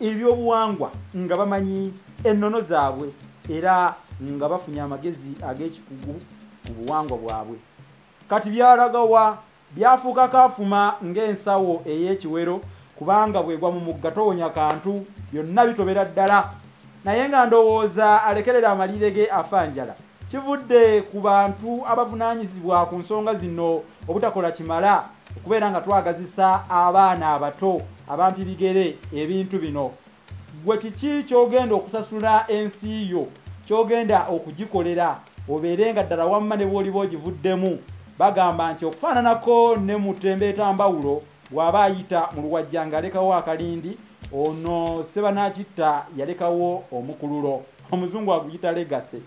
ebyobuwangwa nga bamanyi ennono zaabwe era nga bafunye amagezi ag'ekikugu ku buwangwa bwabwe kati byalagawa byafuuka kaafuma ng'ensawo ey'ekiwero kubanga bwegwa mu mugga towonya kantu byonna bitobera ddala naye nga ndowooza alekerera amaliire ge afa njala kivudde ku bantu abavunanyizibwa ku nsonga zino obutakola kimala okubeera nga twagazisa abaana abato abampi bigere ebintu bino gwe kiki kyogenda okusasula ensi yo kyogenda okugikolera obeere nga ddala wamma ne bwoliba ogivuddemu bagamba nti okufaananako ne mutembeeta mbawulo bw'aba ayita mu luwajja ng'alekawo akalindi ono sebanakitta yalekawo omukululo omuzungu aguyita legase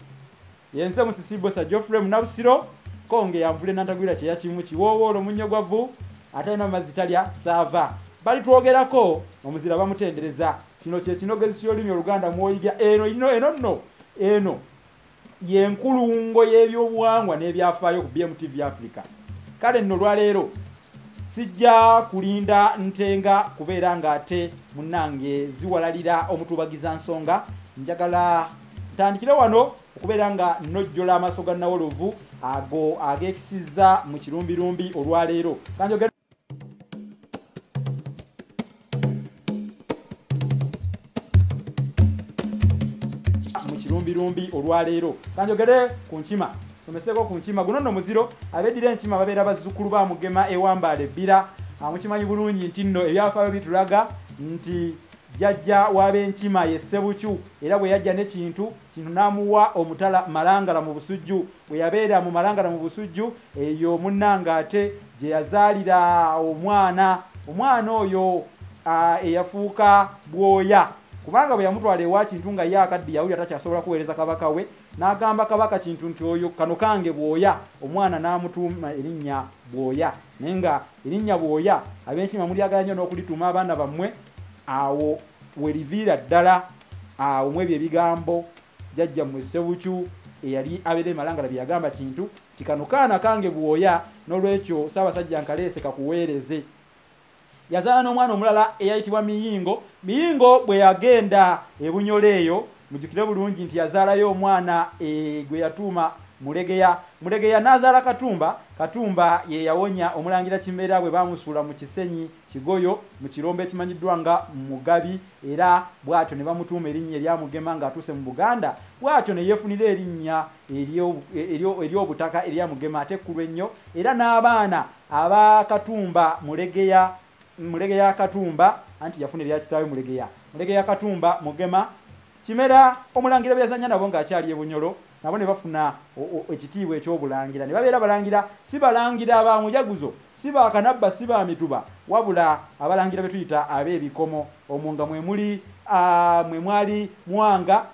yenze musisibosa geoffrey munabusiro konge yanvule nantagwira kyeyakimu kiwoowoolo omunnyo gwa vvu atalina mazzi talya saava bali twogerako omuzira bamutendereza kino kyekinogezi kyolulimi oluganda mwoyiga eno ino eno nno eno yenkulungo y'ebyobuwangwa n'ebyafaayo ku BMTV Africa kale nno lwaleero sijja kulinda ntenga kubeera ng'ate munnange ziwalalira omutuubagiza nsonga njagala tandikire wano okubeera nga nojjola amaaso ga nawolovu ago ageekisizza mu kirumbirumbi olwaleero kanjogera mukirumbilumbi olwaleero kanjogere ku nkima someseko ku nkima guno nno muziro abeddira enkima babeera bazzukulu ba mugema ewambaala ebbira mukimanyi bulungi nti nno ebyafaayo bitulaga nti jajja w'abenkima ye ssebukyu era bwe yajja nekintu kintu n'amuwa omutala malangala mu busujju bwe yabeera mu malangana mu busujju eyo munnange ate gye yazaalira omwana omwana oyo eyafuuka bwoya kubanga bwe yamutwala ewa kintu nga ye akaddi yawulira takyasobola kuweereza kabaka we n'agamba kabaka kintu nti oyo kano kange bwoya omwana n'amutuuma erinnya bwoya naye nga erinnya bwoya ab'enkima mulyagala nnyo n'okulituuma abaana bammwe awo weriviira ddala awo mwebyo ebigambo jajja mwe sewuchu eyali abere malangala byagamba kintu kikano kaana kange buoya nolwekyo saba sajja nkalese kakuwereze yazala no mwana omulala eyayitibwa miyingo miyingo bwe yagenda ebunyole eyo mujukire bulungi nti yazala yo mwana e gwe yatuma mulegeya mulegeya nazala katumba katumba ye yawonya omulangira kimera bwe bamusula mu kisenyi Kigoyo mu kirombe ekimanyiddwa nga Mugabi era bw'atyo ne bamutuuma erinnya erya Mugema ng'atuuse mu Buganda bw'atyo ne yeefunira erinnya ery'obutaka erya Mugema ate ekkulu ennyo era n'abaana aba Katumba Mulegeya Mulegeya Katumba anti yafuna erya kitaawe Mulegeya Mulegeya Katumba Mugema Kimera omulangira be yazannya nabo ng'akyali e Bunyoro nabo ne bafuna ekitiibwa eky'obulangira ne babeera balangira si balangira ba Mujaguzo si ba Kanabba si ba Mituba wabula abalangira be tuyita ab'ebikomo omwo nga mwe muli mwe mwali Mwanga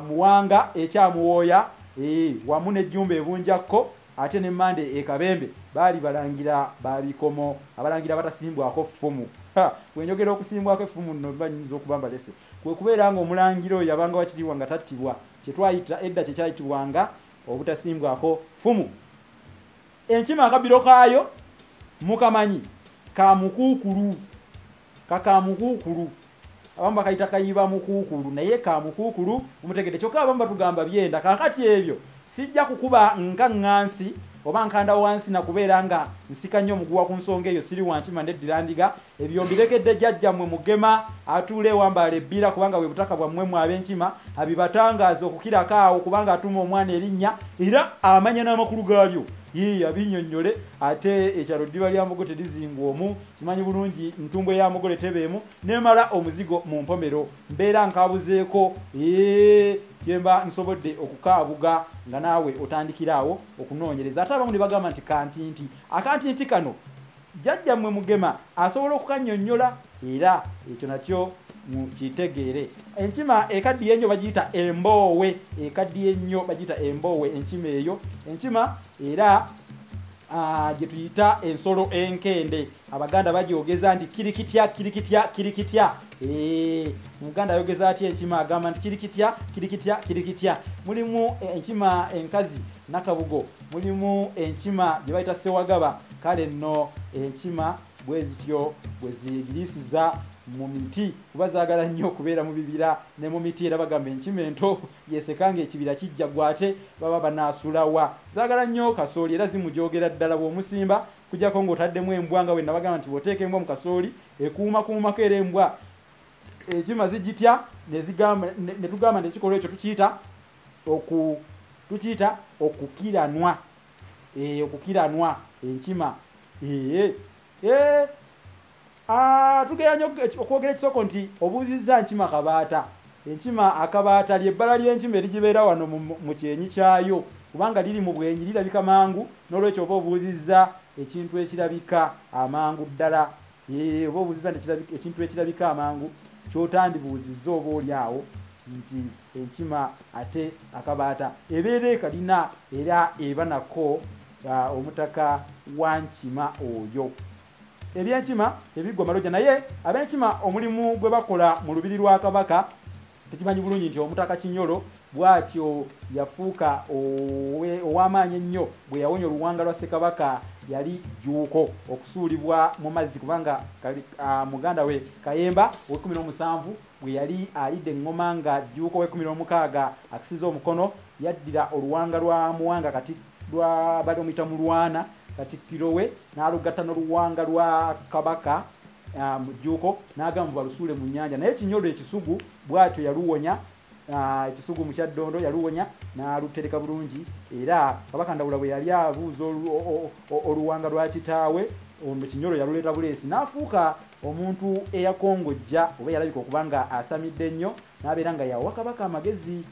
Muwanga ekyamuwooya ee wamu ne Jjumba e Bunjakko ate ne Mmande e Kabembe baali balangira ba bikomo abalangira abatasimbwako ffumu bwe njogera okusimbwako effumu nno mba nnyinza okuba mbalese Kwe kubeera nga omulangira oyo yabanga wa kitiibwa nga tattibwa, kye twayita edda kye kyayitibwanga obutasimbwako ffumu. Enkima akabbiro kaayo mukamanyi? Ka mukuukulu. Ka ka mukuukulu. Abamu bakayita kayibamukuukulu naye ka mukuukulu mumutegedde. Kyokka abamu batugamba byenda. Kaakati ebyo Sijja kukuba nga ŋŋansi oba nkanda wansi na kubeera nga nsika nnyo omuguwa ku nsonga eyo siri wankima neddira ndiga ebyo mbiregedde jajja mwe mugema atuula ewambaala ebbira kubanga bwe butaka bwammwe mwe ab'enkima abibatangaaza okukirako awo kubanga atuuma omwana erinnya era amanya n'amakulu gaalyo yii abinyonnyole ate ekyalo ddiba lya mbogo terizingwa omu kimanyi bulungi ntumbwe ya mugole tebeemu nemala omuzigo mu mpomero mbeera nkabuzeeko ee kyemba nsobodde okukaabuga nga naawe otandikira awo okunoonyereza ate abamu ne bagamba nti kantinti akantinti kano jjajja mmwe mugema asobola okukannyonnyola era ekyo nakyo mukitegeere enkima ekaddiye ennyo bagiyita emboowe ekaddiye ennyo bagiyita emboowe enkima eyo enkima era Ah, gye tuyita ensolo enkende abaganda bagyogeza nti kiri kitya kiri kitya kiri kitya eh, omuganda ayogeza atya enkima agamba nti kiri kitya kiri kitya kiri kitya mulimu eh, enkima enkazi nakabugo mulimu enkima gye bayita sewagaba kale nno enkima bwe zityo bwe zigirisiza mu miti kuba zaagala nnyo okubeera mu bibira ne mu miti era bagamba enkima ento Yeseka nga ekibira kijja gwe ate baba banasula wa? Zagala nnyoo kasooli era zimujogera ddala bwomusimba kujako nga otaddemu embwa nga bwenabagamba nti bwoteeka embwa mu kasooli ekuuma kuumako era embwa enkima zigitya nezigamba netugamba nti ekikolwa ekyo tukiyita oku tukiyita okukiranwa e, okukiranwa enkima ee ee Ah, tugera nyo okwogera ekisoko nti obuuzizza nkima kabaata enkima akabaata lyebbala ly'enkima erigibeera wano mu kyenyi kyayo kubanga liri mu bwenyi lirabika mangu n'olwekyo oba obuuzizza ekintu ekirabika amangu ddala oba obuuzizza ekintu ekirabika amangu kyotandibuuzizza oba oli awo nti enkima ate akabaata ebeera ekalina era eba nako ah, omutaka wa nkima oyo ebyenkima tebiggwa maloja naye abenkima omulimu gwe bakola mu lubiri lwa kabaka tukimanyi bulungi nti omutaka kinyolo bwatyo yafuuka ow'amaanyi ennyo bwe yawonya oluwanga lwa ssekabaka yali jjuuko okusuulibwa mu mazzi kubanga muganda we kayemba owekumi n'omusanvu Bwe yali alidde eŋŋoma nga Jjuuko w'ekkumi n'omukaaga akisiza omukono, yaddira oluwanga lwa Muwanga kati lwa baali bamuyita Mulwana, Katikkiro we, n'alugatta n'oluwanga lwa Kabaka Jjuuko n'agamba mbu balusuule mu nnyanja naye Kinyolo e Kisugu bw'atyo yaluwonya e Kisugu mu Kyaddondo yaluwonya n'alutereka bulungi era Kabaka Ndawula bwe yali abuuza oluwanga lwa kitaawe ono Kinyolo yaluleeta buleesi n'afuuka omuntu eyakongojja oba yalabika okuba nga asamidde nnyo n'abeera nga yawa kabaka amagezi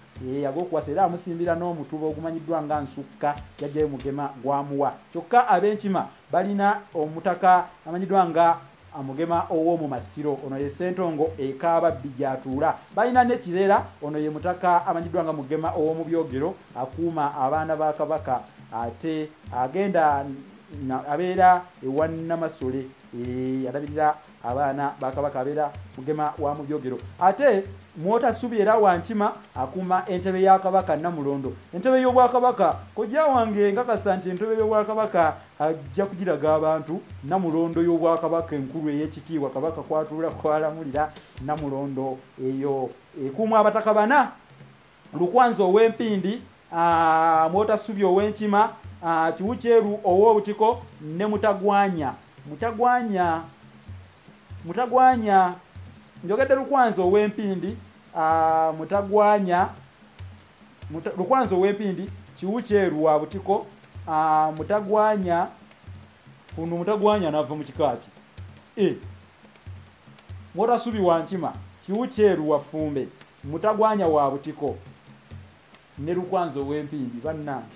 ag'okuwasa era amusimbira n'omutuba ogumanyiddwa nga nsukka yajjayo mugema gwamuwa kyokka ab'enkima balina omutaka amanyiddwa nga amugema ow'omu masiro ono ye sentongo ekaaba bbi gy'atuula balina n'ekirera ono ye mutaka amanyiddwa nga mugema ow'omu byogero akuuma abaana ba kabaka ate agenda abeera ewa namasole Eh, alabirira abaana bakabaka abeera mugema wa mu byogero ate mwotasubi era wankima akuuma entebe ya kabaka namulondo entebe y'obwakabaka kojja wange nkakasa nti entebe y'obwakabaka ajja kugiraga abantu namulondo y'obwakabaka enkulu ey'ekitiibwa kabaka kwatuula kwalamulira namulondo eyo ekuumu abataka bana Lukwanzi ow'Empindi, ah, Mwotassubi ow'Enkima, ah, Kiwukyeru ow'Obutiko ne Mutagwanya. Mutagwanya, Mutagwanya, njogedde Lukwanzi ow'Empindi, ah, Mutagwanya, Muta, Lukwanzi ow'Empindi, Kiwukyeru wa Butiko, ah, Mutagwanya. Kuno Mutagwanya anava mu kika ki? E. Mwotassubi wa Nkima, Kiwukyeru wa Ffumbe. mutagwanya wa butiko ne lukwanza ow'empindi bannange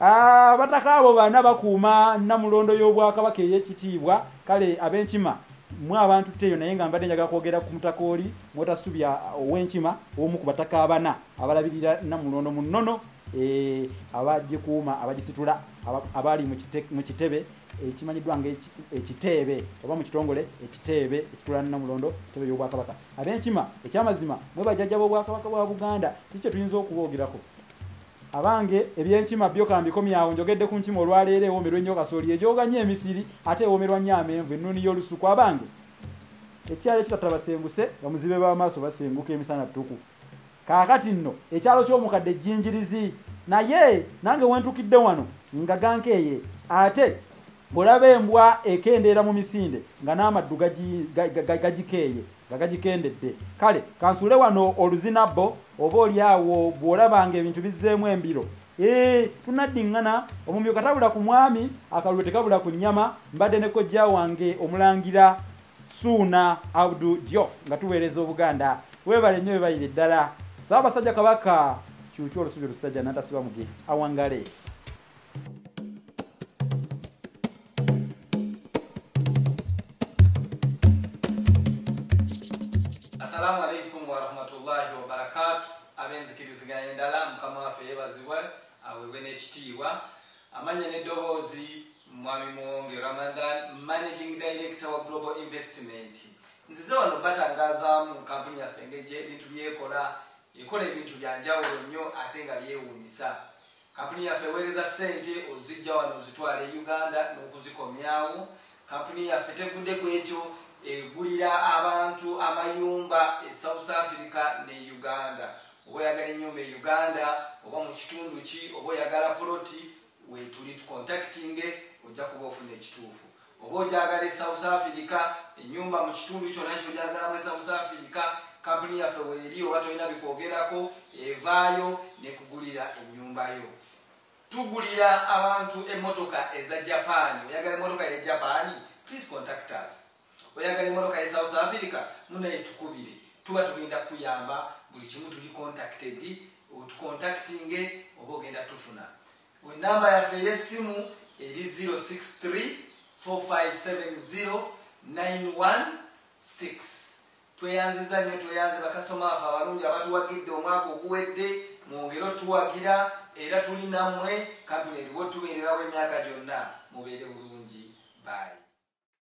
ah, abataka abo bana bakuuma namulondo y'obwakabaka ey'ekitiibwa kale ab'enkima mwe abantu teyo naye nga mbadde njaga kwogera ku mutaka oli mwotasubya ow'enkima omu ku bataka abana abalabirira namulondo mu nnono Eh, abagikuuma abagisitula abali mu kitebe ekimanyiddwa eh, ngaekiteebe eh, oba mu kitongole ekiteebe ekitulana namulondo kitebe byobwakabaka abenkima ekyamazima mwe bajajja bobwakabaka bwa buganda ki kyetuyinza okuboogerako abange ebyenkima byo kambikomyawo njogedde ku nkima olwaleero ewomerwa ennyo kasooli egyoga nnyo emisiri ate ewomerwa nnyo amenvu ennuuni y'olusuku abange ekyayo ekitatabasenguse bamuzibe b'amaaso basenguka emisana ttuku Kaakati nno, ekyalo ky'omukadde Jjinjirizi. Naye, nange we ntukidde wano, nga gankeeye. Ate, olaba embwa ekendeera mu misinde, nga n'amaddu gagi, ga, ga, ga, gagikeeye, nga gagikendedde. Kale, ka nsuule wano oluzinabbo, oba oli awo bw'olaba nga ebintu bizzeemu embiro. Eeh, tunaddiŋŋana, omumyu katabula ku mwami, akalulu tekabula ku nnyama, mbadde ne kojja wange, Omulangira. suuna abdu diof nga tuweereza obuganda webale nnyo webalire ddala saabasajja kabaka kyukyo olusubi olusajja natasiba muge awangale assalamu alaikum warahmatullahi wabarakatu abenzikiriziganya endala mukama waffe yebazibwa awebwe n'ekitiibwa amanya n'eddoboozi Mwami Muwonge Ramadhan, Managing Director wa Global Investment. Nzize wano obatangazaamu kampuni yaffe engeri gy'ebintu by'ekola. Ekola ebintu bya njawulo nnyo ate nga byewuunyisa. Kampuni yaffe eweereza ssente oziggya wano ozitwala e Uganda n'okuzikomyawo. Kampuni yaffe tevudde ku ekyo, egulira abantu amayumba e South Africa ne Uganda. Oba oyagala ennyumba e Uganda oba mu kitundu ki, oba oyagala poloti, Wetuli tukontakitinge ojja kuba ofuna ekituufu. Oba ogyagala e South Africa, ennyumba mu kitundu kyonna ky'ogyagalamu e South Africa, kkampuni yaffe weeri oba tolina bikwogerako evaayo n'ekugulira ennyumba yo. Tugulira abantu emmotoka eza Japan. Oyagala emmotoka ya Japan? Please contact us. Oyagala emotoka ye South Africa munaye tukubire tuba tugenda kuyamba buli kimu tuli contacted otucontactinge oba ogenda tufuna enamba yaffe eyesimu eri 063 4570 916 tweyanziza nyo tweyanze bakasitoma afe abalungi abatuwagidde omwaka oguwedde mwongere otuwagira era tuli namwe kampuni eriwo tubeererawo emyaka gyonna mubeere bulungi bayi